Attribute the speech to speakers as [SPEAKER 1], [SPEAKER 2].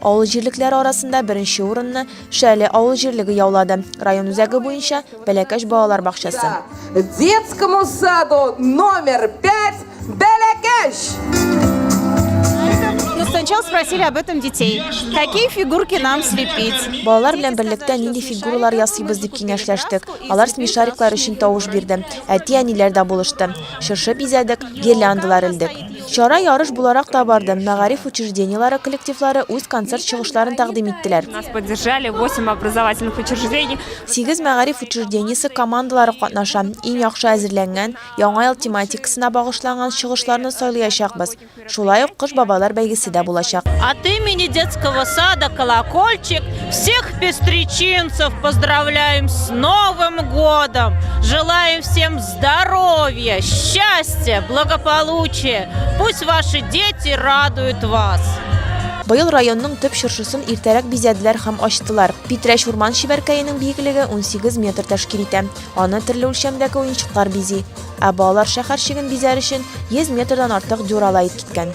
[SPEAKER 1] Авыл җирлекләре арасында беренче урынны Шәле авыл җирлеге яулады. Район үзәге буенча Бәләкәч балалар бакчасы. Детскому саду номер 5 Бәләкәч! Сначала спросили об этом детей. Какие фигурки нам слепить? Балалар белән берлектә нинди фигуралар ясыйбыз дип киңәшләштек. Алар смешариклар өчен тавыш бирде. Әти-әниләр дә булышты. Чыршы бизәдек, гирляндалар элдек. Чара ярыш буларак та барды. Мәгариф учреждениеләре коллективлары үз концерт чыгышларын тәкъдим иттеләр. Нас поддержали 8 образовательных учреждений. Сигез мәгариф учреждениесе командалары катнаша. Иң яхшы әзерләнгән, Яңа ел тематикасына багышланган чыгышларны сайлыячакбыз. Шулай ук Кыш бабайлар бәйгесе дә булачак. От имени детского сада Колокольчик всех пестричинцев поздравляем с Новым годом! Желаем всем Здоров'я, щастя, благополучие. Пусть ваши дети радуют вас. Быел районның төп чыршысын иртәрәк бизәделәр һәм ачтылар. Питрәч урман чибәркәенең биеклеге 18 метр тәшкил итә. Аны төрле үлчәмдәге уенчыклар бизи. Ә балалар шәһәр чиген бизәр өчен 100 метрдан артык дюрала ит киткән.